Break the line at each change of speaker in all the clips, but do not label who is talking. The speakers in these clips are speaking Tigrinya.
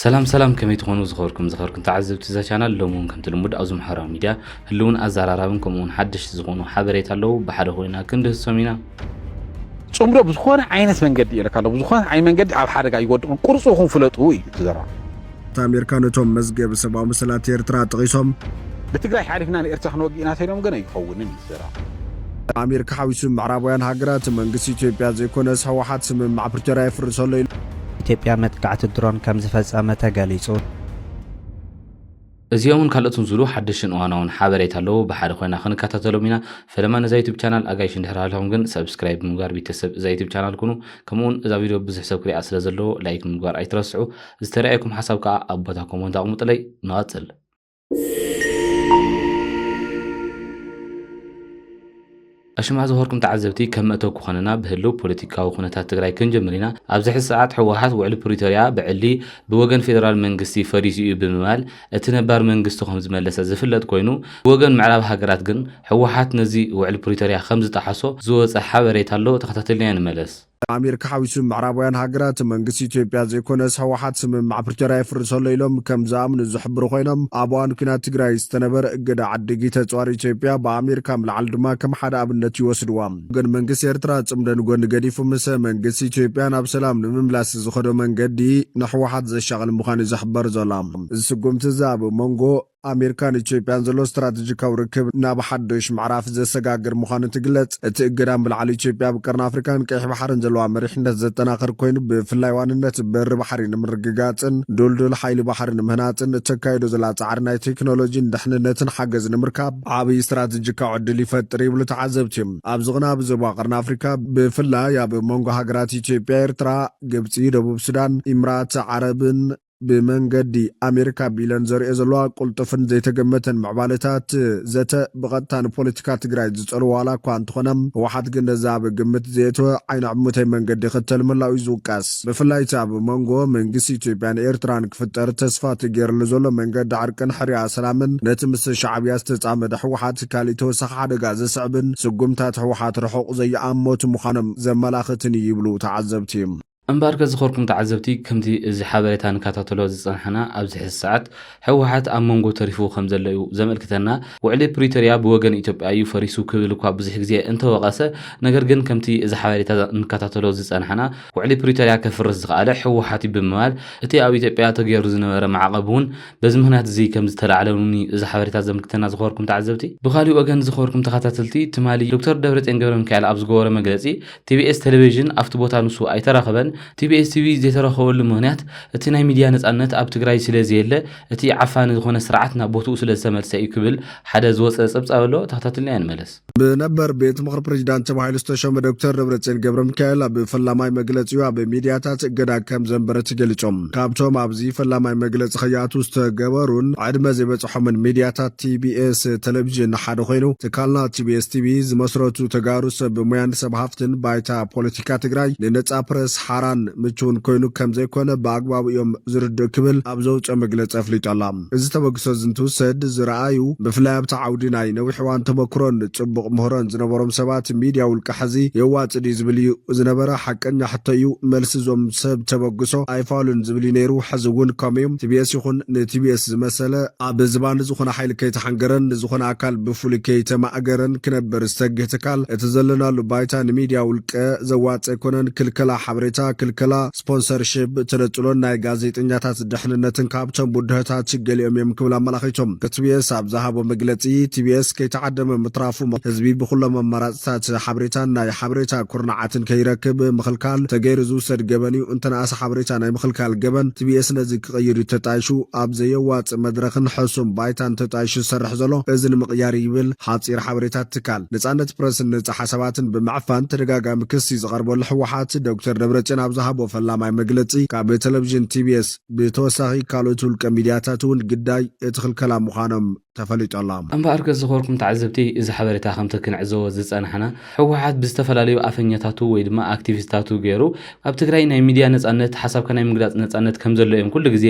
ሰላም ሰላም ከመይ ትኾኑ ዝኸርኩም ዝኸርኩም ተዓዘብቲ እዛ ቻናል ሎሚ እውን ከምቲ ልሙድ ኣብዚ ማሕበራዊ ሚድያ ህልውን ኣዘራራብን ከምኡ እውን ሓደሽቲ ዝኾኑ ሓበሬታ ኣለዉ ብሓደ ኮይና ክንድህሶም ኢና ፅምዶ
ብዝኾነ ዓይነት መንገዲ ይልካ ኣሎ ብዝኾነ ዓይነት መንገዲ ኣብ ሓደጋ ይወድቕን ቁርፅኹም ፍለጡ እዩ ትዘረባ እቲ ኣሜሪካ
ነቶም መዝገብ ሰብኣዊ መሰላት ኤርትራ ጠቒሶም ብትግራይ ሓሊፍና
ንኤርትራ ክንወግእ ኢና ተኢሎም ግን ኣይኸውንን እዩ ስራሕ። ኣሜሪካ
ሓዊሱ ምዕራባውያን ሃገራት፣ መንግስቲ ኢትዮጵያ ዘይኮነስ ህወሓት ስምምዕ ፕሪቶርያ የፍርሶ ኣሎ ኢሎም። ኢትዮጵያ
መጥቃዕቲ ድሮን ከምዝፈፀመ ተገሊፁ።
እዚኦምን ካልኦትን ዝብሉ ሓደሽትን እዋናውን ሓበሬታ ኣለው ብሓደ ኮይና ክንከታተሎም ኢና ፈለማ ነዛ ዩቱብ ቻናል ኣጋይሽ እንድሕር ሃሊኹም ግን ሰብስክራይብ ብምግባር ቢተሰብ እዛ ዩቱብ ቻናል ኩኑ ከምኡውን እዛ ቪድዮ ብዙሕ ሰብ ክሪኣ ስለ ዘለዎ ላይክ ምግባር ኣይትረስዑ ዝተረኣየኩም ሓሳብ ከኣ ኣብ ቦታ ኮሞንት ኣቕሙጥለይ ንቐጽል ኣሽማ ዝኸርኩም ተዓዘብቲ ከም መእተው ክኾነና ብህልው ፖለቲካዊ ኩነታት ትግራይ ክንጀምር ኢና። ኣብዚ ሕዚ ሰዓት ህወሓት ውዕሊ ፕሪቶርያ ብዕሊ ብወገን ፌደራል መንግስቲ ፈሪሱ እዩ ብምባል እቲ ነባር መንግስቱ ከምዝመለሰ ዝፍለጥ ኮይኑ ብወገን ምዕራብ ሃገራት ግን ህወሓት ነዚ ውዕሊ ፕሪቶርያ ከምዝጠሓሶ ዝወፀ ሓበሬታ ኣሎ ተኸታቲልናዮ ንመለስ። ንኣሜሪካ ሓዊሱ
ምዕራባውያን ሃገራት፣ መንግስቲ ኢትዮጵያ ዘይኮነስ ህወሓት ስምምዕ ፕሪቶርያ የፍርስ ኣሎ ኢሎም ከም ዝኣምኑ ዝሕብሩ ኮይኖም፣ ኣብ እዋን ኲናት ትግራይ ዝተነበረ እገዳ ዓዲጊ ተጽዋር ኢትዮጵያ ብኣሜሪካ ምልዓል ድማ ከም ሓደ ኣብነት ይወስድዋ። ግን መንግስቲ ኤርትራ ጽምዶ ንጎኒ ገዲፉ ምስ መንግስቲ ኢትዮጵያ ናብ ሰላም ንምምላስ ዝኸዶ መንገዲ ንህወሓት ዘሻቕል ምዃኑ'ዩ ዝሕበር ዘሎ። እዚ ስጉምቲ'ዚ ኣብ ሞንጎ ኣሜሪካን ኢትዮጵያን ዘሎ ስትራተጂካዊ ርክብ ናብ ሓዱሽ ምዕራፍ ዘሰጋግር ምዃኑ ትግለጽ። እቲ እገዳ ብላዕሊ ኢትዮጵያ ኣብ ቀርኒ ኣፍሪካን ቀይሕ ባሕርን ዘለዋ መሪሕነት ዘጠናኽር ኮይኑ ብፍላይ ዋንነት በሪ ባሕሪ ንምርግጋጽን ድልዱል ሓይሊ ባሕሪ ንምህናጽን እተካይዶ ዘላ ጻዕሪ ናይ ቴክኖሎጂን ድሕንነትን ሓገዝ ንምርካብ ዓብይ ስትራተጂካዊ ዕድል ይፈጥር ይብሉ ተዓዘብቲ። ኣብዚ ቅነ ኣብ ዞባ ቀርኒ ኣፍሪካ ብፍላይ ኣብ መንጎ ሃገራት ኢትዮጵያ፣ ኤርትራ፣ ግብጺ፣ ደቡብ ሱዳን፣ ኢምራት ዓረብን፣ ብመንገዲ ኣሜሪካ ቢለን ዘርእዮ ዘለዋ ቁልጡፍን ዘይተገመተን ምዕባለታት ዘተ ብቐጥታ ንፖለቲካ ትግራይ ዝፀልዎ ዋላ እኳ እንተኾነ ህወሓት ግን ነዚ ኣብ ግምት ዘየእተወ ዓይኒ ዕሙተይ መንገዲ ይኽተል ምህላው እዩ ዝውቀስ። ብፍላይ እቲ ኣብ ሞንጎ መንግስቲ ኢትዮጵያን ኤርትራን ክፍጠር ተስፋ ተገይርሉ ዘሎ መንገዲ ዕርቅን ሕርያ ሰላምን ነቲ ምስ ሻዕብያ ዝተፃመደ ህወሓት ካሊእ ተወሳኺ ሓደጋ ዘስዕብን ስጉምታት ህወሓት ርሑቕ ዘይኣመቱ ምዃኖም ዘመላኽትን እዩ ይብሉ ተዓዘብቲ። እምበኣር ከዝኸርኩም ተዓዘብቲ ከምቲ እዚ ሓበሬታ ንካታተሎ ዝጸናሕና ኣብዚ ሕዚ ሰዓት ህወሓት ኣብ መንጎ ተሪፉ ከምዘሎ እዩ ዘመልክተና። ውዕሊ ፕሪቶርያ ብወገን ኢትዮጵያ እዩ ፈሪሱ ክብል እኳ ብዙሕ ግዜ እንተወቐሰ ነገር ግን ከምቲ እዚ ሓበሬታ ንካታተሎ ዝጸናሕና ውዕሊ ፕሪቶርያ ከፍርስ ዝኸኣለ ህወሓት እዩ ብምባል እቲ ኣብ ኢትዮጵያ ተገይሩ ዝነበረ ማዕቐብ እውን በዚ ምኽንያት እዚ ከምዝተላዕለ እውን እዩ እዚ ሓበሬታ ዘምልክተና ዝኸበርኩም ተዓዘብቲ። ብኻሊእ ወገን ዝኸበርኩም ተኸታተልቲ ትማሊ ዶክተር ደብረጽዮን ገብረሚካኤል ኣብ ዝገበሮ መግለጺ ቲቢኤስ ቴሌቪዥን ኣብቲ ቦታ ንሱ ኣይተረኸበን። ቲቢኤስ ቲቪ ዘይተረኸበሉ ምኽንያት እቲ ናይ ሚዲያ ነፃነት ኣብ ትግራይ ስለዘየለ እቲ ዓፋኒ ዝኾነ ስርዓት ናብ ቦትኡ ስለዝተመልሰ እዩ ክብል ሓደ ዝወፀ ፀብፃብ ኣሎ ተኸታቲልናዮ ንመለስ። ብነበር ቤት ምኽሪ ፕሬዚዳንት ተባሂሉ ዝተሾመ ዶክተር ደብረፅዮን ገብረሚካኤል ኣብ ፈላማይ መግለፂኡ ኣብ ሚዲያታት እገዳ ከምዘንበረ ተገሊፁ። ካብቶም ኣብዚ ፈላማይ መግለፂ ከይኣትው ዝተገበሩን ዕድመ ዘይበፀሖም ዝነቐሖምን ሚድያታት ቲቢኤስ ተለቪዥን ሓደ ኮይኑ፣ ትካልና ቲቢኤስ ቲቪ ዝመስረቱ ተጋሩ ሰብ ሞያን ሰብ ሃፍትን ባይታ ፖለቲካ ትግራይ ንነፃ ፕረስ ሓራን ምቹውን ኮይኑ ከምዘይኮነ ብኣግባቡ እዮም ዝርድኡ ክብል ኣብ ዘውፅኦ መግለፂ ኣፍሊጡ ኣሎ። እዚ ተበግሶ እዚ እንትውሰድ ዝረኣዩ ብፍላይ ኣብቲ ዓውዲ ናይ ነዊሕ እዋን ተመክሮን ፅቡቕ ምህሮን ዝነበሮም ሰባት ሚድያ ውልቀ ሐዚ የዋፅእ ድዩ ዝብል እዩ ዝነበረ። ሓቀኛ ሕቶ እዩ መልሲ እዞም ሰብ ተበግሶ ኣይፋሉን ዝብል እዩ ነይሩ። ሐዚ እውን ከምኡ'ዩ። ቲቢኤስ ይኹን ንቲቢኤስ። ዝመሰለ፣ ኣብ ዝባን ዝኾነ ሓይሊ ከይተሓንገረን ንዝኾነ ኣካል ብፍሉይ ከይተማእገረን ክነብር ዝተግህ ትካል፣ እቲ ዘለናሉ ባይታ ንሚድያ ውልቀ ዘዋጽእ ኣይኮነን፣ ክልከላ ሓበሬታ፣ ክልከላ ስፖንሰርሺፕ፣ ተነጽሎን ናይ ጋዜጠኛታት ደሕንነትን ካብቶም ብድሆታት ገሊኦም እዮም ክብል ኣመላኺቱ። ቲቢኤስ ኣብ ዝሃቦ መግለጺ፣ ቲቢኤስ ከይተዓደመ ምትራፉ፣ ህዝቢ ብኹሎም ኣማራጺታት ሓበሬታን ናይ ሓበሬታ ኩርናዓትን ከይረክብ ምኽልካል፣ ተገይሩ ዝውሰድ ገበን እዩ፣ እንተነኣሰ ሓበሬታ ናይ ምኽልካል ገበን፣ ቲቢኤስ ነዚ ክቕይር እዩ ተጣይሹ ኣብ ዘየዋጽእ መድረኽን ሕሱም ባይታን ተጣይሹ ዝሰርሕ ዘሎ እዚ ንምቕያር እዩ ይብል ሓጺር ሓበሬታ እቲ ትካል። ነጻነት ፕረስን ነጻ ሓሳባትን ብምዕፋን ተደጋጋሚ ክሲ ዝቐርበሉ ህወሓት ዶክተር ደብረጽዮን ኣብ ዝሃቦ ፈላማይ መግለጺ ካብ ተለቪዥን ቲቢኤስ ብተወሳኺ ካልኦት ውልቀ ሚድያታት እውን ግዳይ እቲ ክልከላ ምዃኖም ተፈሊጡ ኣሎ። እምበኣር ከዝኸርኩም
ተዓዘብቲ እዚ ሓበሬታ ከምቲ ክንዕዘቦ ዝጸናሕና ህወሓት ብዝተፈላለዩ ኣፈኛታቱ ወይ ድማ ኣክቲቪስታቱ ገይሩ ኣብ ትግራይ ናይ ሚድያ ነጻነት ሓሳብካ ናይ ምግላጽ ነጻነት ከምዘሎ እዮም ኩሉ ግዜ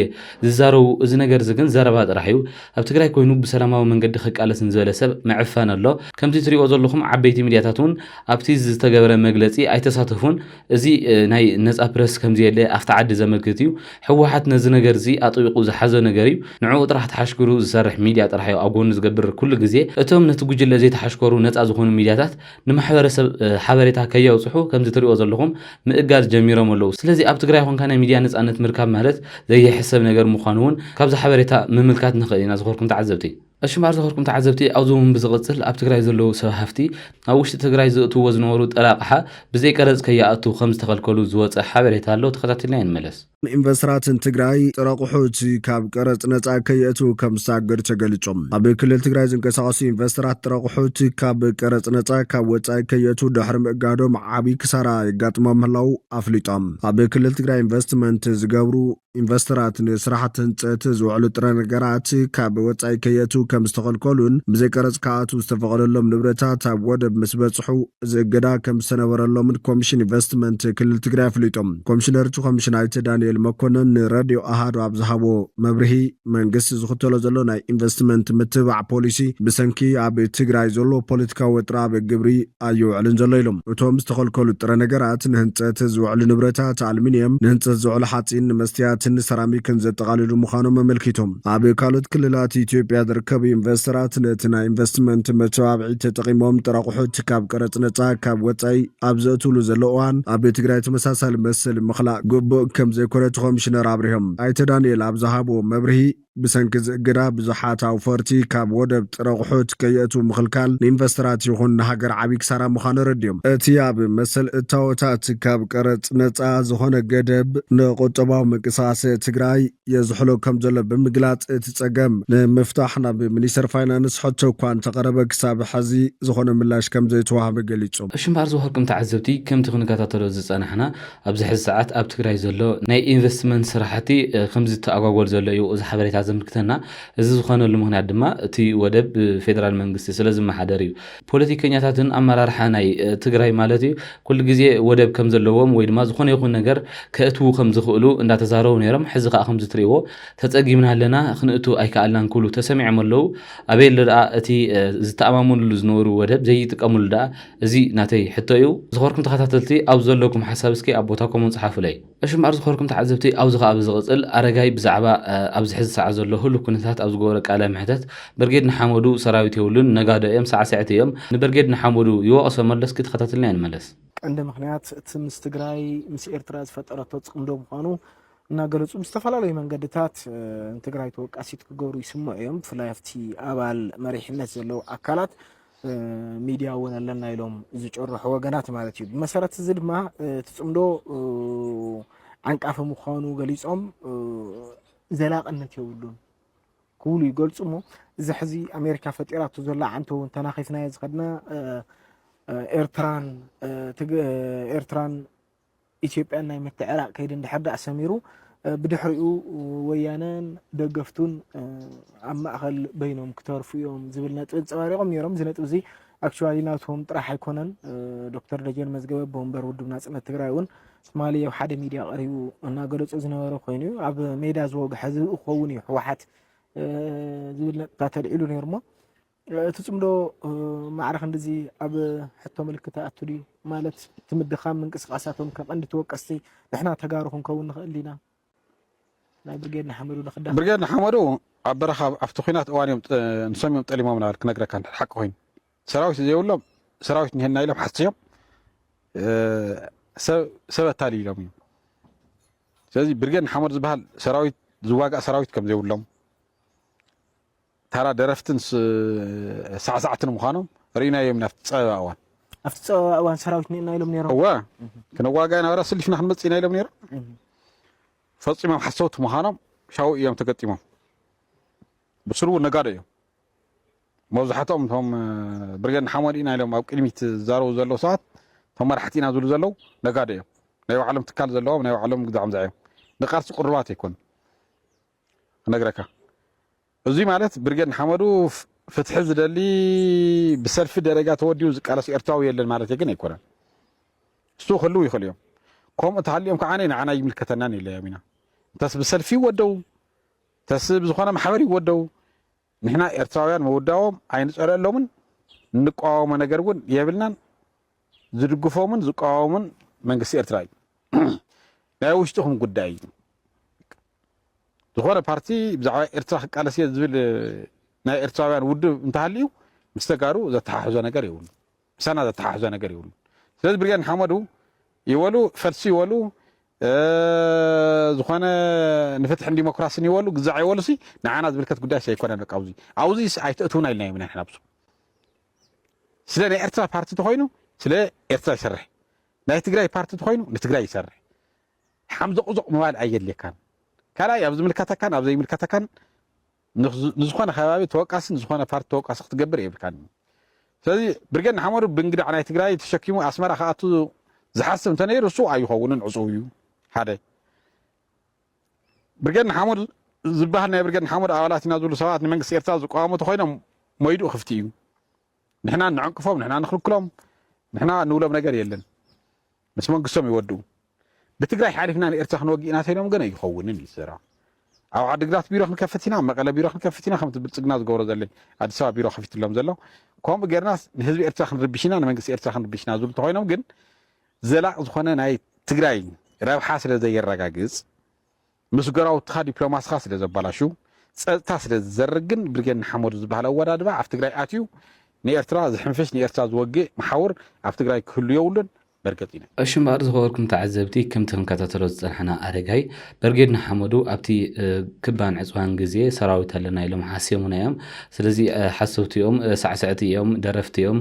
ዝዛረቡ እዚ ነገር እዚ ግን ዘረባ ጥራሕ እዩ ኣብ ትግራይ ኮይኑ ብሰላማዊ መንገዲ ክቃለስ ንዝበለ ሰብ ምዕፋን ኣሎ ከምቲ ትሪእዎ ዘለኹም ዓበይቲ ሚድያታት እውን ኣብቲ ዝተገበረ መግለጺ ኣይተሳተፉን እዚ ናይ ነፃ ፕረስ ከምዘየለ ኣብቲ ዓዲ ዘመልክት እዩ። ህወሓት ነዚ ነገር እዚ ኣጥቢቑ ዝሓዞ ነገር እዩ። ንዕኡ ጥራሕ ተሓሽክሩ ዝሰርሕ ሚድያ ጥራሕ እዩ ኣብ ጎኑ ዝገብር ኩሉ ግዜ። እቶም ነቲ ጉጅለ ዘይተሓሽከሩ ነፃ ዝኾኑ ሚድያታት ንማሕበረሰብ ሓበሬታ ከየብፅሑ ከምዚ ትሪእዎ ዘለኹም ምእጋድ ጀሚሮም ኣለዉ። ስለዚ ኣብ ትግራይ ኾንካ ናይ ሚድያ ነፃነት ምርካብ ማለት ዘይሕሰብ ነገር ምዃኑ እውን ካብዚ ሓበሬታ ምምልካት ንኽእል ኢና ዝኾርኩም ተዓዘብቲ። ኣሽም ኣርዘኸርኩም ተዓዘብቲ ኣብዚ እውን ብዝቕፅል ኣብ ትግራይ ዘለዉ ሰብ ሃፍቲ ናብ ውሽጢ ትግራይ ዝእትዎ ዝነበሩ ጥረ ኣቕሓ ብዘይ ቀረፅ ከይኣቱ ከምዝተኸልከሉ ዝወፀ ሓበሬታ ኣሎ ተኸታቲልናዮ ንመለስ። ኢንቨስተራት
ንትግራይ ጥረ ኣቑሑት ካብ ቀረፅ ነፃ ከየእትዉ ከምዝተኣገዱ ተገሊፁ። ኣብ ክልል ትግራይ ዝንቀሳቐሱ ኢንቨስተራት ጥረ ኣቑሑት ካብ ቀረፅ ነፃ ካብ ወፃኢ ከየእትዉ ድሕሪ ምእጋዶም ዓብዪ ክሳራ የጋጥሞም ምህላዉ ኣፍሊጦም። ኣብ ክልል ትግራይ ኢንቨስትመንት ዝገብሩ ኢንቨስተራት ንስራሕቲ ህንፀት ዝውዕሉ ጥረ ነገራት ካብ ወፃኢ ከየእትው ከም ዝተኸልከሉን ብዘይ ቀረፅ ክኣትው ዝተፈቐደሎም ንብረታት ኣብ ወደብ ምስ በፅሑ እዚ እገዳ ከም ዝተነበረሎምን ኮሚሽን ኢንቨስትመንት ክልል ትግራይ ኣፍሊጦም። ኮሚሽነር እቲ ኮሚሽን ኣይተ ዳኒኤል መኮነን ንረድዮ ኣሃዱ ኣብ ዝሃቦ መብርሂ መንግስቲ ዝኽተሎ ዘሎ ናይ ኢንቨስትመንት ምትብባዕ ፖሊሲ ብሰንኪ ኣብ ትግራይ ዘሎ ፖለቲካዊ ወጥሪ ኣብ ግብሪ ኣይውዕልን ዘሎ ኢሉ። እቶም ዝተኸልከሉ ጥረ ነገራት፣ ንህንፀት ዝውዕሉ ንብረታት፣ ኣልሚንየም፣ ንህንፀት ዝውዕሉ ሓፂን፣ ንመስትያትን ሰራሚክን ዘጠቓልሉ ምዃኖም ኣመልኪቱ። ኣብ ካልኦት ክልላት ኢትዮጵያ ዝርከቡ ኢንቨስተራት ነቲ ናይ ኢንቨስትመንት መተባብዒ ተጠቒሞም ጥረ ኣቑሑት ካብ ቀረፅ ነፃ ካብ ወፃኢ ኣብ ዘእትውሉ ዘለዉ እዋን ኣብ ትግራይ ተመሳሳሊ መሰል ምኽላእ ግቡእ ከምዘይኮነ እቲ ኮሚሽነር ኣብሪሆም። ኣይተ ዳንኤል ኣብ ዝሃብዎ መብርሂ፣ ብሰንኪ እዚ እገዳ ብዙሓት ኣውፈርቲ ካብ ወደብ ጥረ ኣቑሑት ከየእትዉ ምኽልካል ንኢንቨስተራት ይኹን ንሃገር ዓብዪ ክሳራ ምዃኑ ኣረዲኦም። እቲ ኣብ መሰል እታወታት ካብ ቀረፅ ነፃ ዝኾነ ገደብ ንቁጠባዊ ምንቅስቓስ ትግራይ የዝሕሎ ከምዘሎ ብምግላፅ እቲ ፀገም ንምፍታሕ ናብ ሚኒስቴር ፋይናንስ ሕቶ እኳ እንተቐረበ ክሳብ ሐዚ ዝኾነ ምላሽ ከምዘይተዋህበ ገሊፆም። ሽም ኣርዝወርቅም
ተዓዘብቲ ከምቲ ክንከታተሎ ዝፀናሕና ኣብዚ ሕዚ ሰዓት ኣብ ትግራይ ዘሎ ናይ ኢንቨስትመንት ስራሕቲ ከም ዝተኣጓጎል ዘሎ እዩ እዚ ሓበሬታ ዘምልክተና። እዚ ዝኾነሉ ምኽንያት ድማ እቲ ወደብ ብፌደራል መንግስቲ ስለ ዝመሓደር እዩ። ፖለቲከኛታትን ኣመራርሓ ናይ ትግራይ ማለት እዩ ኩሉ ግዜ ወደብ ከም ዘለዎም ወይ ድማ ዝኾነ ይኹን ነገር ከእትዉ ከም ዝኽእሉ እንዳተዛረቡ ነይሮም። ሕዚ ከዓ ከምዚ ትሪእዎ ተፀጊምና ኣለና ክንእቱ ኣይከኣልናን ክብሉ ተሰሚዖም ኣለዉ። ኣበይ ኣሎ ደኣ እቲ ዝተኣማመንሉ ዝነበሩ ወደብ ዘይጥቀምሉ ደኣ? እዚ ናተይ ሕቶ እዩ ዝኸርኩም ተኸታተልቲ ኣብዚ ዘለኩም ሓሳብ እስኪ ኣብ ቦታ ኮሙን ጽሓፉለይ። እሺ እምበኣር ዝኸርኩም ተዓዘብቲ ኣብዚ ከኣ ብዝቕጽል ኣረጋይ ብዛዕባ ኣብዚ ሕዚ ሰዓት ዘሎ ህሉው ኩነታት ኣብ ዝገበሮ ቃለ መሕተት ብርጌድ ንሓመዱ ሰራዊት የብሉን ነጋዶ እዮም ሳዕስዕቲ እዮም ንብርጌድ ንሓመዱ ይወቕሶ መሎ እስኪ ተኸታተልናዮ ንመለስ። ቀንዲ ምኽንያት
እቲ ምስ ትግራይ ምስ ኤርትራ ዝፈጠረቶ ጽምዶ ምዃኑ እናገለጹ ብዝተፈላለዩ መንገድታት ንትግራይ ተወቃሲት ክገብሩ ይስምዑ እዮም። ብፍላይ ኣብቲ ኣባል መሪሕነት ዘለዉ ኣካላት ሚድያ እውን ኣለና ኢሎም ዝጭርሑ ወገናት ማለት እዩ። ብመሰረት እዚ ድማ እቲ ፅምዶ ዓንቃፊ ምዃኑ ገሊፆም ዘላቕነት የብሉን ክብሉ ይገልፁ እሞ እዚ ሕዚ ኣሜሪካ ፈጢራቶ ዘላ ዓንቶ እውን ተናኺፍናዮ ዝኸድና ኤርትራን ኤርትራን ኢትዮጵያን ናይ ምትዕራቕ ከይዲ እንድሕር ድኣ ሰሚሩ ብድሕሪኡ ወያነን ደገፍቱን ኣብ ማእኸል በይኖም ክተርፉ እዮም ዝብል ነጥቢ ኣንፀባሪቖም ነይሮም። እዚ ነጥቢ እዚ ኣክቹዋሊ ናቶም ጥራሕ ኣይኮነን። ዶክተር ደጀን መዝገበ ብወንበር ውድብ ናፅነት ትግራይ እውን ትማሊ ኣብ ሓደ ሚድያ ቀሪቡ እናገለፆ ዝነበረ ኮይኑ እዩ። ኣብ ሜዳ ዝወግሐ ዝብኢ ክኸውን እዩ ህወሓት ዝብል ነጥብታት ኣልዒሉ ነይሩ እሞ እቲ ጽምዶ ማዕረ ክንድዚ ኣብ ሕቶ ምልክት ይኣቱ ድዩ? ማለት እቲ ምድኻም ምንቅስቓሳቶም ከም ቀንዲ ተወቀስቲ ንሕና ተጋሩ ክንከውን ንኽእል ዲና? ናይ ብርጌድ ንሓመዱ ንክዳኸም። ብርጌድ ንሓመዱ
ኣብ በረኻ ኣብቲ ኲናት እዋን እዮም ንሶም እዮም ጠሊሞምና በል ክነግረካ እንድሕር ሓቂ ኮይኑ ሰራዊት ዘይብሎም ሰራዊት እኒሀና ኢሎም ሓሲዮም ሰብ ሰብ ኣታሊሎም እዮም ስለዚ ብርጌድ ንሓመዱ ዝበሃል ሰራዊት ዝዋጋእ ሰራዊት ከም ዘይብሎም ታራ ደረፍትን ሳዕሳዕትን ምዃኖም ርኢናዮም ኢና ኣብቲ ጸበባ እዋን። ኣብቲ ጸበባ
እዋን ሰራዊት ኒእና ኢሎም ነይሮም። እወ
ክነዋጋ ኢና ወላ ስሊፍና ክንመጽእ ኢና ኢሎም ነይሮም። ፈጺሞም ሓሰውቲ ምዃኖም ሻው እዮም ተገጢሞም። ብስልቡ ነጋዶ እዮም። መብዛሕትኦም እቶም ብርጌድ ንሓመዱ ኢና ኢሎም ኣብ ቅድሚት ዝዛረቡ ዘለዉ ሰባት እቶም መራሕቲ ኢና ዝብሉ ዘለዉ ነጋዶ እዮም። ናይ ባዕሎም ትካል ዘለዎም ናይ ባዕሎም ግዛዖም ዘዕዮም ንቃልሲ ቅሩባት ኣይኮኑ ክነግረካ እዙይ ማለት ብርጌድ ንሓመዱ ፍትሒ ዝደሊ ብሰልፊ ደረጃ ተወዲኡ ዝቃለስ ኤርትራዊ የለን ማለት ግን ኣይኮነን። እሱ ክህልው ይኽእሉ እዮም። ከምኡ ተሃልዮም ከዓ ንዓና ይምልከተናን ይለዮም ኢና እንተስ ብሰልፊ ይወደው ተስ ብዝኾነ ማሕበር ይወደው ንሕና ኤርትራውያን ምውዳዎም ኣይንፀለሎምን እንቋወሞ ነገር እውን የብልናን ዝድግፎምን ዝቋወምን መንግስቲ ኤርትራ እዩ ናይ ውሽጥኹም ጉዳይ እዩ ዝኾነ ፓርቲ ብዛዕባ ኤርትራ ክቃለስ እየ ዝብል ናይ ኤርትራውያን ውድብ እንተሃልዩ ምስ ተጋሩ ዘተሓሕዞ ነገር የብሉ ምሳና ዘተሓሕዞ ነገር የብሉ ስለዚ ብርጌድ ንሓመዱ ይበሉ ፈልሲ ይበሉ ዝኾነ ንፍትሕን ዲሞክራሲን ይበሉ ግዛዕ ይበሉ ሲ ንዓና ዝምልከት ጉዳይ ሰይኮነን በቃ ኣብዚ ኣብዚ ኣይተእትውና ኢልና ኢና ንሕና ብሱ ስለ ናይ ኤርትራ ፓርቲ ተኮይኑ ስለ ኤርትራ ይሰርሕ ናይ ትግራይ ፓርቲ ተኮይኑ ንትግራይ ይሰርሕ ሓምዞቕዞቕ ምባል ኣየድልየካን። ካልኣይ ኣብ ዝምልከተካን ኣብ ዘይምልከተካን ንዝኾነ ከባቢ ተወቃሲ ንዝኾነ ፓርቲ ተወቃሲ ክትገብር የብልካን እዩ። ስለዚ ብርጌድ ንሓመዱ ብእንግዳዕ ናይ ትግራይ ተሸኪሙ ኣስመራ ክኣቱ ዝሓስብ እንተነይሩ እሱ ኣይኸውንን ዕፁው እዩ ሓደ ብርጌድ ንሓመዱ ዝበሃል ናይ ብርጌድ ንሓመዱ ኣባላት ኢና ዝብሉ ሰባት ንመንግስቲ ኤርትራ ዝቋወሙ ተኮይኖም ሞይድኡ ክፍቲ እዩ ንሕና ንዕንቅፎም ንሕና ንክልክሎም ንሕና ንብሎም ነገር የለን ምስ መንግስቶም ይወድኡ ብትግራይ ሓሊፍና ንኤርትራ ክንወግእ ኢና ተይሎም ግን ኣይኸውንን እዩ እቲ ዘረባ ኣብ ዓድግራት ቢሮ ክንከፍት ኢና ኣብ መቐለ ቢሮ ክንከፍት ኢና ከምቲ ብልጽግና ዝገብሮ ዘለ ኣዲስ ኣበባ ቢሮ ከፊትሎም ዘሎ ከምኡ ጌርናስ ንህዝቢ ኤርትራ ክንርብሽ ኢና ንመንግስቲ ኤርትራ ክንርብሽ ኢና ዝብሉ እንተኾይኖም ግን ዘላቕ ዝኾነ ናይ ትግራይ ረብሓ ስለ ዘየረጋግጽ ምስ ጎራውትኻ ዲፕሎማስኻ ስለ ዘባላሹ፣ ጸጥታ ስለ ዝዘርግ ግን ብርጌድ ንሓመዱ ዝበሃል ኣወዳድባ ኣብ ትግራይ ኣትዩ ንኤርትራ ዝሕንፍሽ ንኤርትራ ዝወግእ መሓውር ኣብ ትግራይ ክህሉ የብሉን መርገጺ ናይ። እሺ እምበኣር ዝኸበርኩም
ተዓዘብቲ ከምቲ ክንከታተሎ ዝጸናሕና ኣረጋይ በርጌድ ንሓመዱ ኣብቲ ክባን ዕጽዋን ግዜ ሰራዊት ኣለና ኢሎም ሓስዮሙና እዮም ስለዚ ሓሰውቲ እዮም ሳዕስዕቲ እዮም ደረፍቲ እዮም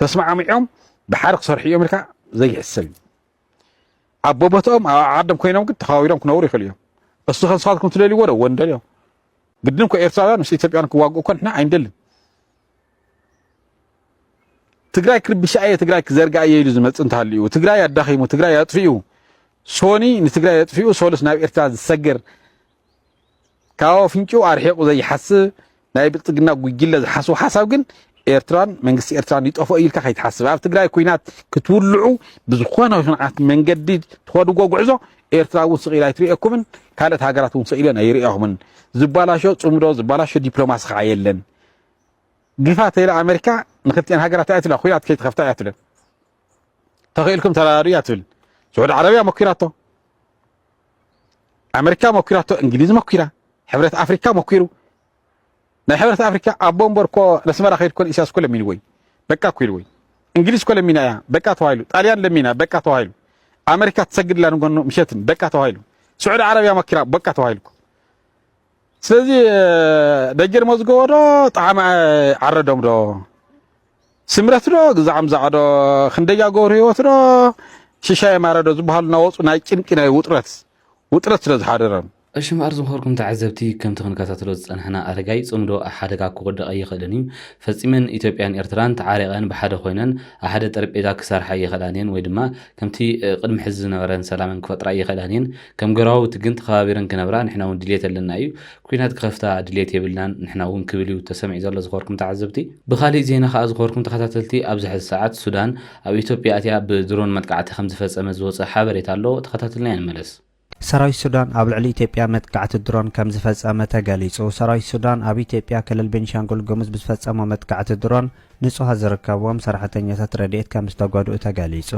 ተስማዕሚዖም ብሓደ ክሰርሑ እዮም ኢልካ ዘይሕሰብ እዩ ኣብ ቦቦትኦም ኣብ ዓዶም ኮይኖም ግን ተኸባቢሮም ክነብሩ ይኽእሉ እዮም እሱ ከንስኻትኩም ትደልይዎ ዶ ወንደልዮ ግድን እኮ ኤርትራውያን ምስ ኢትዮጵያን ክዋግኡ እኮ ንሕና ኣይንደልን ትግራይ ክርብሻ እየ ትግራይ ክዘርጋ እየ ኢሉ ዝመፅእ እንተሃልዩ ትግራይ ኣዳኺሙ ትግራይ ኣጥፊኡ ሶኒ ንትግራይ ኣጥፊኡ ሶሉስ ናብ ኤርትራ ዝሰገር ካብ ኣፍንጭኡ ኣርሒቑ ዘይሓስብ ናይ ብልፅግና ጉጅለ ዝሓስቦ ሓሳብ ግን ኤርትራን መንግስቲ ኤርትራን ይጠፍኦ ኢልካ ከይትሓስብ ኣብ ትግራይ ኩናት ክትውልዑ ብዝኾነ ይኹን ዓይነት መንገዲ ትኸድዎ ጉዕዞ ኤርትራ እውን ስቕ ኢላ ኣይትርእየኩምን ካልኦት ሃገራት እውን ስቕ ኢለን ኣይርእያኹምን ዝባላሾ ፅምዶ ዝባላሾ ዲፕሎማሲ ከዓ የለን ግፋ ተይላ ኣሜሪካ ንክልቲኤን ሃገራት እያ ትብላ ኩናት ከይትኸፍታ እያ ትብለን ተኽኢልኩም ተራዳዱ እያ ትብል ስዑድ ዓረብያ መኪራቶ ኣመሪካ መኲራቶ፣ እንግሊዝ መኲራ፣ ሕብረት ኣፍሪካ መኲሩ። ናይ ሕብረት ኣፍሪካ ኣቦ እምበር እኮ ነስመራ ከይድ ኮን ኢሳያስ እኮ ለሚንዎ እዩ በቃ እኮ ኢልዎ እዩ። እንግሊዝ እኮ ለሚና እያ በቃ ተባሂሉ። ጣልያን ለሚና በቃ ተባሂሉ። ኣመሪካ ትሰግድላ ንጎኑ ምሸትን በቃ ተባሂሉ። ስዑዲ ዓረብያ መኪራ በቃ ተባሂሉ። ስለዚ ደጀን መዝገቦ ዶ ጣዕመ ዓረዶም ዶ ስምረት ዶ ግዛዕም ዛዕዶ ክንደያ ገብሩ ህይወት ዶ ሽሻየ ማረ ዶ ዝበሃሉ እናወፁ ናይ ጭንቂ ናይ ውጥረት ውጥረት ስለ ዝሓደሮም እሺ እምበኣር ዝኸርኩም
ተዓዘብቲ ከምቲ ክንከታተሎ ዝጸናሕና ኣረጋይ ጽምዶ ኣብ ሓደጋ ክወድቕ ኣይኽእልን እዩ። ፈጺመን ኢትዮጵያን ኤርትራን ተዓሪቐን ብሓደ ኮይነን ኣብ ሓደ ጠረጴዛ ክሰርሓ ኣይኽእላን እየን ወይ ድማ ከምቲ ቅድሚ ሕዚ ዝነበረን ሰላመን ክፈጥራ ኣይኽእላን እየን። ከም ገራውቲ ግን ተኸባቢረን ክነብራ ንሕና እውን ድልየት ኣለና እዩ። ኲናት ክኸፍታ ድልየት የብልናን ንሕና እውን ክብል እዩ ተሰሚዑ ዘሎ ዝኸበርኩም ተዓዘብቲ። ብኻሊእ ዜና ከኣ ዝኸበርኩም ተኸታተልቲ ኣብዚ ሕዚ ሰዓት ሱዳን ኣብ ኢትዮጵያ ኣትያ ብድሮን መጥቃዕቲ ከምዝፈጸመት ዝወጸ ሓበሬታ ኣሎ ተኸታቲልናዮ ንመለስ። ሰራዊት ሱዳን
ኣብ ልዕሊ ኢትዮጵያ መጥቃዕቲ ድሮን ከምዝፈጸመ ተገሊጹ። ሰራዊት ሱዳን ኣብ ኢትዮጵያ ክልል ቤኒሻንጉል ጉሙዝ ብዝፈጸሞ መጥቃዕቲ ድሮን፣ ንጹሃት ዝርከብዎም ሰራሕተኛታት ረድኤት ከም ዝተጎድኡ ተገሊጹ።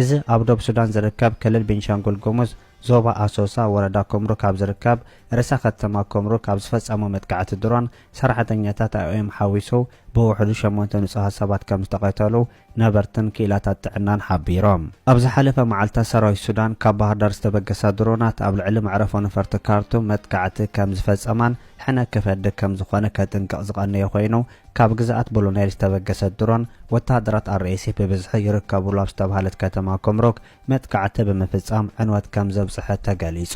እዚ ኣብ ዶብ ሱዳን ዝርከብ ክልል ቤንሻንጉል ጉሙዝ ዞባ ኣሶሳ ወረዳ ኩምሩክ ኣብ ዝርከብ ርእሰ ከተማ ኩምሩክ ኣብ ዝፈጸሞ መጥቃዕቲ ድሮን ሰራሕተኛታት ኣይኦኤም ሓዊሱ ብውሕዱ ሸሞንተ ንጹሃት ሰባት ከም ዝተቐተሉ ነበርትን ክኢላታት ጥዕናን ሓቢሮም። ኣብ ዝሓለፈ መዓልታት ሰራዊት ሱዳን ካብ ባህርዳር ዝተበገሳ ድሮናት ኣብ ልዕሊ መዕረፎ ነፈርቲ ካርቱም መጥቃዕቲ ከም ዝፈጸማን ሕነ ክፈዲ ከም ዝኾነ ከጥንቅቕ ዝቐነየ ኮይኑ፣ ካብ ግዝኣት ብሉኔል ዝተበገሰት ድሮን፣ ወተሃደራት RSF ብብዝሒ ይርከቡሉ ኣብ ዝተብሃለት ከተማ ኩምሩክ መጥቃዕቲ ብምፍጻም ዕንወት ከም ዘብጽሐት ተገሊጹ።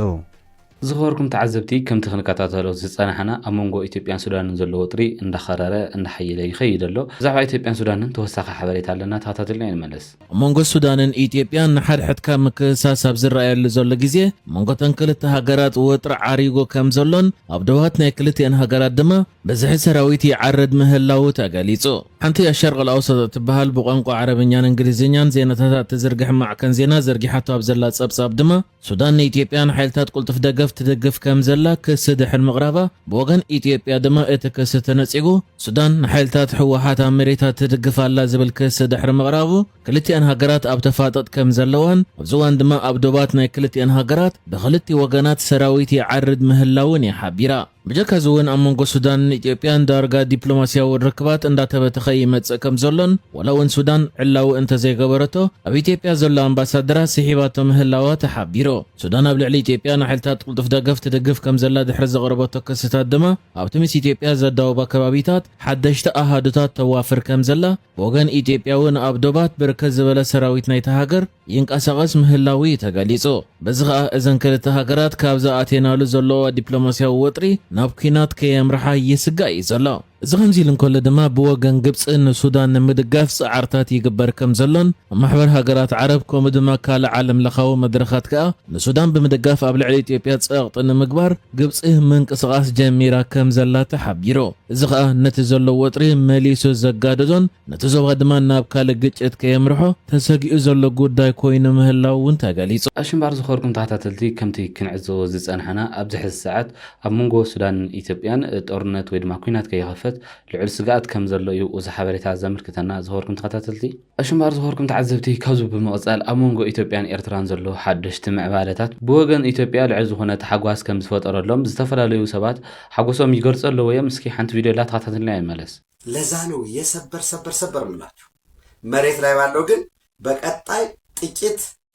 ዝኸበርኩም
ተዓዘብቲ ከምቲ ክንከታተሎ ዝጸናሕና ኣብ መንጎ ኢትዮጵያን ሱዳንን ዘሎ ወጥሪ እንዳኸረረ እንዳሓየለ ይኸይድ ኣሎ። ብዛዕባ ኢትዮጵያን ሱዳንን ተወሳኺ ሓበሬታ ኣለና ተኸታተሉና ንመለስ። ኣብ መንጎ ሱዳንን
ኢትዮጵያን ንሓድሕድካ ምክስሳስ ኣብ ዝረኣየሉ ዘሎ ግዜ፣ ኣብ መንጎ እተን ክልተ ሃገራት ወጥሪ ዓሪጉ ከም ዘሎን ኣብ ዶባት ናይ ክልቲኤን ሃገራት ድማ ብዝሒ ሰራዊት ይዓርድ ምህላዉ ተገሊጹ። ሓንቲ ኣሸርቅ ኣልኣውሰጥ እትበሃል ብቋንቋ ዓረብኛን እንግሊዝኛን ዜናታታ እትዝርግሕ ማዕከን ዜና ዘርጊሓቶ ኣብ ዘላ ጸብጻብ ድማ፣ ሱዳን ንኢትዮጵያ ንሓይልታት ቁልጡፍ ደገፍ ትድግፍ ከምዘላ ክሲ ድሕሪ ምቕራባ፣ ብወገን ኢትዮጵያ ድማ እቲ ክሲ ተነጺጉ። ሱዳን ንሓይልታት ህወሓት ኣብ መሬታ ትድግፍ ኣላ ዝብል ክሲ ድሕሪ ምቕራቡ፣ ክልቲኣን ሃገራት ኣብ ተፋጠጥ ከምዘለዋን ኣብዚ እዋን ድማ ኣብ ዶባት ናይ ክልቲኣን ሃገራት ብኽልቲኡ ወገናት ሰራዊት ይዓርድ ምህላዉን እያ ሓቢራ። ብጀካ እዚ እውን ኣብ መንጎ ሱዳንን ኢትዮጵያን ዳርጋ ዲፕሎማስያዊ ርክባት እንዳተበተኸ ይመጽእ ከም ዘሎን ዋላ እውን ሱዳን ዕላዊ እንተዘይገበረቶ ኣብ ኢትዮጵያ ዘሎ ኣምባሳደራ ስሒባቶ ምህላዋ ተሓቢሩ። ሱዳን ኣብ ልዕሊ ኢትዮጵያ ንሓይልታት ቅልጡፍ ደገፍ ትድግፍ ከም ዘላ ድሕሪ ዘቕረበቶ ክስታት ድማ ኣብቲ ምስ ኢትዮጵያ ዘዳውባ ከባቢታት ሓደሽቲ ኣሃዱታት ተዋፍር ከም ዘላ ብወገን ኢትዮጵያ እውን ኣብ ዶባት ብርክት ዝበለ ሰራዊት ናይታ ሃገር ይንቀሳቐስ ምህላዉ እዩ ተገሊጹ። በዚ ከኣ እዘን ክልተ ሃገራት ካብዚ ኣትየናሉ ዘለዋ ዲፕሎማስያዊ ወጥሪ ናብ ኲናት ከየምርሓ ይስጋእ እዩ ዘሎ። እዚ ከምዚ ኢሉ እንከሎ ድማ ብወገን ግብጺ ንሱዳን ንምድጋፍ ጻዕርታት ይግበር ከም ዘሎን ማሕበር ሃገራት ዓረብ ከምኡ ድማ ካልእ ዓለምለኻዊ መድረኻት ከኣ ንሱዳን ብምድጋፍ ኣብ ልዕሊ ኢትዮጵያ ጸቕጢ ንምግባር ግብጺ ምንቅስቓስ ጀሚራ ከም ዘላ ተሓቢሩ። እዚ ኸኣ ነቲ ዘሎ ወጥሪ መሊሱ ዘጋደዶን ነቲ ዞባ ድማ ናብ ካልእ ግጭት ከየምርሖ ተሰጊኡ ዘሎ ጉዳይ ኮይኑ ምህላዉ እውን ተገሊጹ። ኣሽንባር ዝኸርኩም
ተኸታተልቲ ከምቲ ክንዕዘቦ ዝጸናሕና ኣብዚ ሕዚ ሰዓት ኣብ መንጎ ሱዳንን ኢትዮጵያን ጦርነት ወይ ድማ ኩናት ከይኸፈት ልዑል ስግኣት ከምዘሎ እዩ እዚ ሓበሬታ ዘምልክተና ዝኸበርኩም ተኸታተልቲ። ኣሽንባር ዝኾርኩም ተዓዘብቲ ካብዚ ብምቕጻል ኣብ መንጎ ኢትዮጵያን ኤርትራን ዘሎ ሓደሽቲ ምዕባለታት ብወገን ኢትዮጵያ ልዑል ዝኾነ ታሕጓስ ከም ዝፈጠረሎም ዝተፈላለዩ ሰባት ሓጎሶም ይገልጹ ኣለዉ እዮም እስኪ ሓንቲ ቪድዮ ኣላ ተኸታተልናያ ንመለስ። ለዛ ነው
የሰበር ሰበር ሰበር ምላችሁ መሬት ላይ ባለው ግን በቀጣይ ጥቂት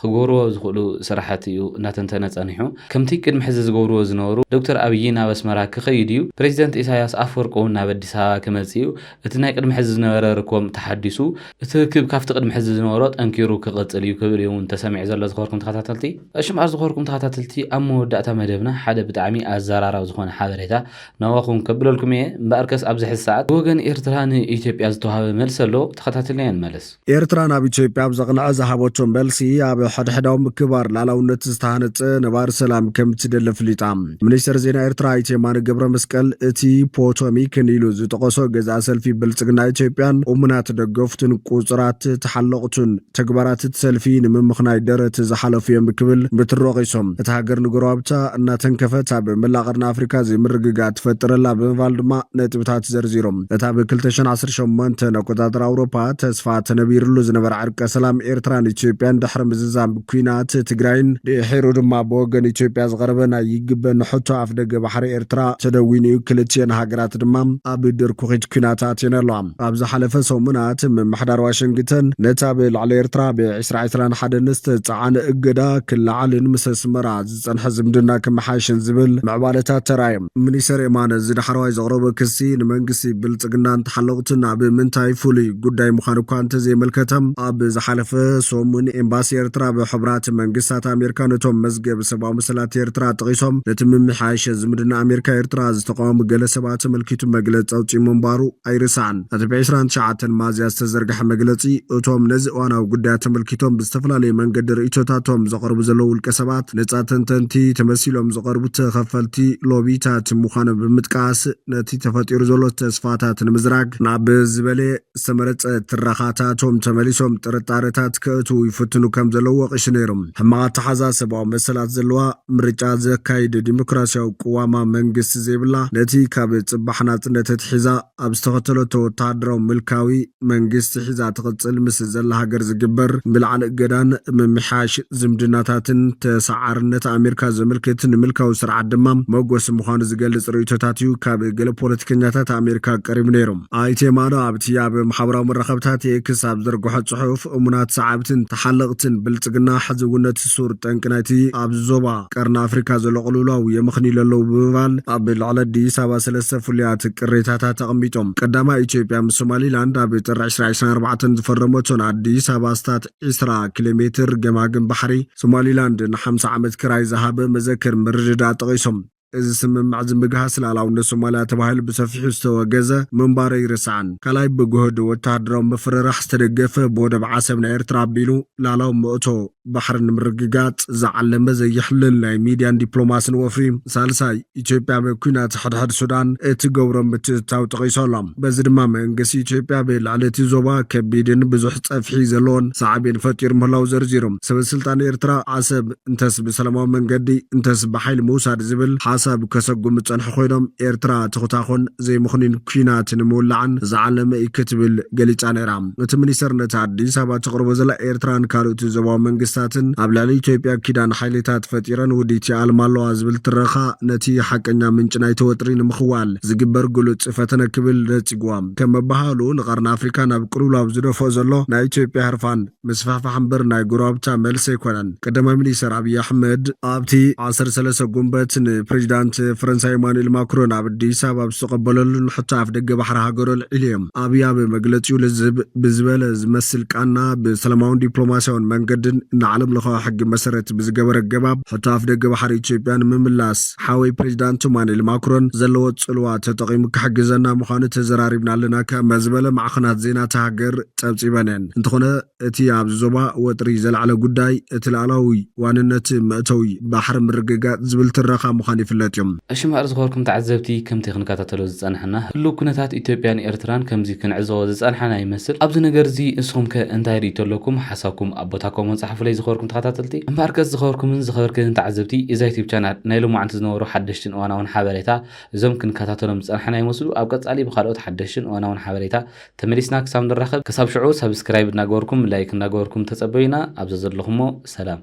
ክገብርዎ ዝኽእሉ ስራሕቲ እዩ እናተንተነ ፀኒሑ። ከምቲ ቅድሚ ሕዚ ዝገብርዎ ዝነበሩ ዶክተር ኣብይ ናብ ኣስመራ ክኸይድ እዩ፣ ፕረዚደንት ኢሳያስ ኣፈወርቂ እውን ናብ ኣዲስ ኣበባ ክመፅእ እዩ፣ እቲ ናይ ቅድሚ ሕዚ ዝነበረ ርክቦም ተሓዲሱ፣ እቲ ርክብ ካብቲ ቅድሚ ሕዚ ዝነበሮ ጠንኪሩ ክቕፅል እዩ ክብል እዩ እውን ተሰሚዑ ዘሎ ዝኸበርኩም ተኸታተልቲ። እሽም ኣር ዝኸበርኩም ተኸታተልቲ ኣብ መወዳእታ መደብና ሓደ ብጣዕሚ ኣዘራራቢ ዝኾነ ሓበሬታ ናባኹም ከብለልኩም እየ፣ እምበኣርከስ ኣብዚ ሕዚ ሰዓት ብወገን ኤርትራ ንኢትዮጵያ ዝተውሃበ መልሲ ኣሎ ተኸታቲልና ንመለስ። ኤርትራ ናብ ኢትዮጵያ
ኣብ ዘቕንዐ ዝሃበቶ መልሲ ኣብ ሕድሕዳዊ ምክባር ላላውነት ዝተሃነፀ ነባሪ ሰላም ከም እትደሊ ኣፍሊጣ። ሚኒስተር ዜና ኤርትራ ኣይተ የማነ ገብረ መስቀል እቲ ፖቶሚክ ንኢሉ ዝጠቐሶ ገዛኢ ሰልፊ ብልጽግና ኢትዮጵያን እሙናት ደገፍቱን ቁጽራት ተሓለቕቱን ተግባራት እቲ ሰልፊ ንምምኽናይ ደረት ዝሓለፉ እዮም ክብል ብትሪ ወቒሶም። እታ ሃገር ንጎረባብታ እናተንከፈት ኣብ መላእ ቀርኒ ኣፍሪካ ዘይምርግጋእ ትፈጥር ኣላ ብምባል ድማ ነጥብታት ዘርዚሮም። እታ ብ ክልተ ሽሕን ዓሰርተ ሸሞንተን ኣቆጻጽራ ኣውሮፓ ተስፋ ተነቢርሉ ዝነበረ ዕርቀ ሰላም ኤርትራን ኢትዮጵያን ድሕሪ ምዝዛም ኲናት ትግራይን ድሒሩ ድማ ብወገን ኢትዮጵያ ዝቐረበ ናይ ይግበኒ ሕቶ ኣፍደገ ባሕሪ ኤርትራ ተደዊኑ'ዩ ክልቲኤን ሃገራት ድማ ኣብ ድርኩኺት ኲናት ኣትየን ኣለዋ። ኣብ ዝሓለፈ ሰሙናት ምምሕዳር ዋሽንግተን ነቲ ኣብ ልዕሊ ኤርትራ ብ ዕስራ ዕስራን ሓደን ዝተጻዕነ እገዳ ክለዓልን ምስ ኣስመራ ዝጸንሐ ዝምድና ክመሓየሽን ዝብል ምዕባለታት ተራእዮም። ሚኒስተር የማነ እዚ ዳሕረዋይ ዘቕረቦ ክሲ ንመንግስቲ ብልጽግናን ተሓለቕቱን ኣብ ምንታይ ፍሉይ ጉዳይ ምዃኑ እኳ እንተዘየመልከተ፣ ኣብ ዝሓለፈ ሰሙን ኤምባሲ ኤርትራ ኣብ ሕቡራት መንግስታት ኣሜርካ ነቶም መዝገብ ሰብኣዊ መሰላት ኤርትራ ጠቒሶም ነቲ ምምሕያሸ ዝምድና ኣሜርካ-ኤርትራ ዝተቓወሙ ገለ ሰባት ኣመልኪቱ መግለጺ ኣውጺኡ ምንባሩ ኣይርሳዕን። እቲ ብ ዕስራን ትሽዓተን ሚያዝያ ዝተዘርግሐ መግለፂ እቶም ነዚ እዋናዊ ጉዳይ ኣተመልኪቶም ብዝተፈላለየ መንገዲ ርእይቶታቶም ዘቐርቡ ዘለዉ ውልቀ ሰባት ነፃ ተንተንቲ ተመሲሎም ዝቐርቡ ተኸፈልቲ ሎቢታት ምዃኖም ብምጥቃስ ነቲ ተፈጢሩ ዘሎ ተስፋታት ንምዝራግ ናብ ዝበለየ ዝተመረፀ ትረኻታቶም ተመሊሶም ጥርጣረታት ከእትዉ ይፍትኑ ከም ዘለዉ ወቒሱ ነይሩ። ሕማቕ ኣተሓዛ ሰብኣዊ መሰላት ዘለዋ፣ ምርጫ ዘካይድ ዲሞክራሲያዊ ቅዋማ መንግስቲ ዘይብላ፣ ነቲ ካብ ፅባሕ ናፅነት ኣትሒዛ፣ ኣብ ዝተኸተለቶ ወተሃደራዊ ምልካዊ መንግስቲ ሒዛ ትቕጽል ምስ ዘላ ሃገር ዝግበር ምልዓል እገዳን ምምሕያሽ ዝምድናታትን ተሰዓርነት ኣሜርካ ዘመልክት ንምልካዊ ስርዓት ድማ መጎሲ ምዃኑ ዝገልጽ ርእይቶታት'ዩ ካብ ገለ ፖለቲከኛታት ኣሜርካ ቀሪቡ ነይሩ። ኣይተ ማዶ ኣብቲ ኣብ ማሕበራዊ መራኸብታት ኤክስ ኣብ ዝዘርግሖ ጽሑፍ፣ እሙናት ሰዓብትን ተሓለቕትን ብልጽግና ሕዚ'ውን ነቲ ሱር ጠንቂ ናይቲ ኣብዚ ዞባ ቀርኒ ኣፍሪካ ዘሎ ቅልውላው የመኽንይሉ ኣለዉ ብምባል ኣብ ልዕሊ ኣዲስ ኣበባ ሰለስተ ፍሉያት ቅሬታታት ኣቐሚጦም። ቀዳማይ ኢትዮጵያ ምስ ሶማሊላንድ ኣብ ጥሪ ዕስራ ዕስራን ኣርባዕተን ዝፈረመቶን ኣዲስ ኣበባ ኣስታት ዕስራ ኪሎ ሜትር ገማግም ባሕሪ ሶማሊላንድ ንሓምሳ ዓመት ክራይ ዝሃበ መዘክር ምርድዳእ ጠቒሶም። እዚ ስምምዕ እዚ ምግሃስ ልኣላውነት ሶማልያ ተባሂሉ ብሰፊሑ ዝተወገዘ ምንባሩ ኣይርሳዕን። ካልኣይ ብግሁድ ወተሃደራዊ ምፍርራሕ ዝተደገፈ ብወደብ ዓሰብ ናይ ኤርትራ ኣቢሉ ልኣላዊ መእቶ ባሕሪ ንምርግጋጽ ዝዓለመ ዘየሕልል ናይ ሚድያን ዲፕሎማስን ወፍሪ። ሳልሳይ ኢትዮጵያ ኣብ ኩናት ሕድሕድ ሱዳን እትገብሮ ምትእትታው ጠቒሱ ኣሎ። በዚ ድማ መንግስቲ ኢትዮጵያ ኣብ ልዕሊ እቲ ዞባ ከቢድን ብዙሕ ጸፍሒ ዘለዎን ሳዕቤን ፈጢሩ ምህላዉ ዘርዚሩ። ሰበስልጣን ኤርትራ ዓሰብ። እንተስ ብሰላማዊ መንገዲ እንተስ ብሓይሊ ምውሳድ ዝብል ሓሳብ ከሰጉሙ ዝጸንሑ ኮይኖም፣ ኤርትራ ትኹታኾን ዘይምኽኑይን ኲናት ንምውላዕን ዝዓለመ እዩ ክትብል ገሊጻ ነይራ። እቲ ሚኒስተር ነቲ ኣዲስ ኣበባ ተቕርቦ ዘላ ኤርትራን ካልኦት ዞባዊ መንግስታትን ኣብ ልዕሊ ኢትዮጵያ ኪዳን ሓይሊታት ፈጢረን ውዲት ይኣልማ ኣለዋ ዝብል ትረኻ ነቲ ሓቀኛ ምንጪ ናይቲ ወጥሪ ንምኽዋል ዝግበር ግሉጽ ፈተነ ክብል ነጺግዎ። ከም ምብሃሉ ንቀርኒ ኣፍሪካ ናብ ቅልውላው ዝደፍኦ ዘሎ ናይ ኢትዮጵያ ህርፋን፣ ምስፋሕፋሕ እምበር ናይ ጎረባብታ መልሲ ኣይኮነን። ቀዳማይ ሚኒስተር ኣብይ ኣሕመድ ኣብቲ ዓሰርተ ሰለስተ ጉንበት ንፕሬዚዳንት ፈረንሳይ ኢማኑኤል ማክሮን ኣብ ኣዲስ ኣበባ ኣብ ዝተቐበለሉን ሕቶ ኣፍደገ ባሕሪ ሃገሩ ኣልዒሉ እዩ። ኣብይ ኣብ መግለፂኡ ልዝብ ብዝበለ ዝመስል ቃና ብሰላማውን ዲፕሎማሲያውን መንገድን ንዓለም ለኻዊ ሕጊ መሰረት ብዝገበረ ኣገባብ ሕቶ ኣፍደገ ባሕሪ ኢትዮጵያ ንምምላስ ሓወይ ፕሬዚዳንት ኢማኑኤል ማክሮን ዘለዎ ፅልዋ ተጠቒሙ ክሕግዘና ምዃኑ ተዘራሪብና ኣለና ከመ ዝበለ ማዕኸናት ዜና እታ ሃገር ጸብጺበን'የን። እንተኾነ እቲ ኣብዚ ዞባ ወጥሪ ዘልዓለ ጉዳይ እቲ ልኣላዊ ዋንነት መእተዊ ባሕሪ ምርግጋጽ ዝብል ትረኻ ምዃኑ ይፍለጥ'ዩ። እሺ እምበኣር ዝኸበርኩም
ተዓዘብቲ ከምቲ ክንከታተሎ ዝጸናሕና ህሉው ኩነታት ኢትዮጵያን ኤርትራን ከምዚ ክንዕዘቦ ዝጸናሕና ይመስል። ኣብዚ ነገር'ዚ ንስኹምከ እንታይ ርእይቶ ኣለኩም? ሓሳብኩም ኣብ ቦታ ኮሞን ጸሓፉለይ ዝኸበርኩም ተኸታተልቲ። እምበኣርከስ ዝኸበርኩምን ዝኸበርክንን ተዓዘብቲ እዛ ዩቱብ ቻናል ናይ ሎማዓንቲ ዝነበሩ ሓደሽትን እዋናውን ሓበሬታ እዞም ክንከታተሎም ዝጸናሕና ይመስሉ ኣብ ቀጻሊ ብኻልኦት ሓደሽትን እዋናውን ሓበሬታ ተመሊስና ክሳብ ንራኸብ ክሳብ ሽዑ ሳብስክራይብ እናገበርኩም ላይክ እናገበርኩም ተጸበዩና ኣብ ዘዘለኹሞ ሰላም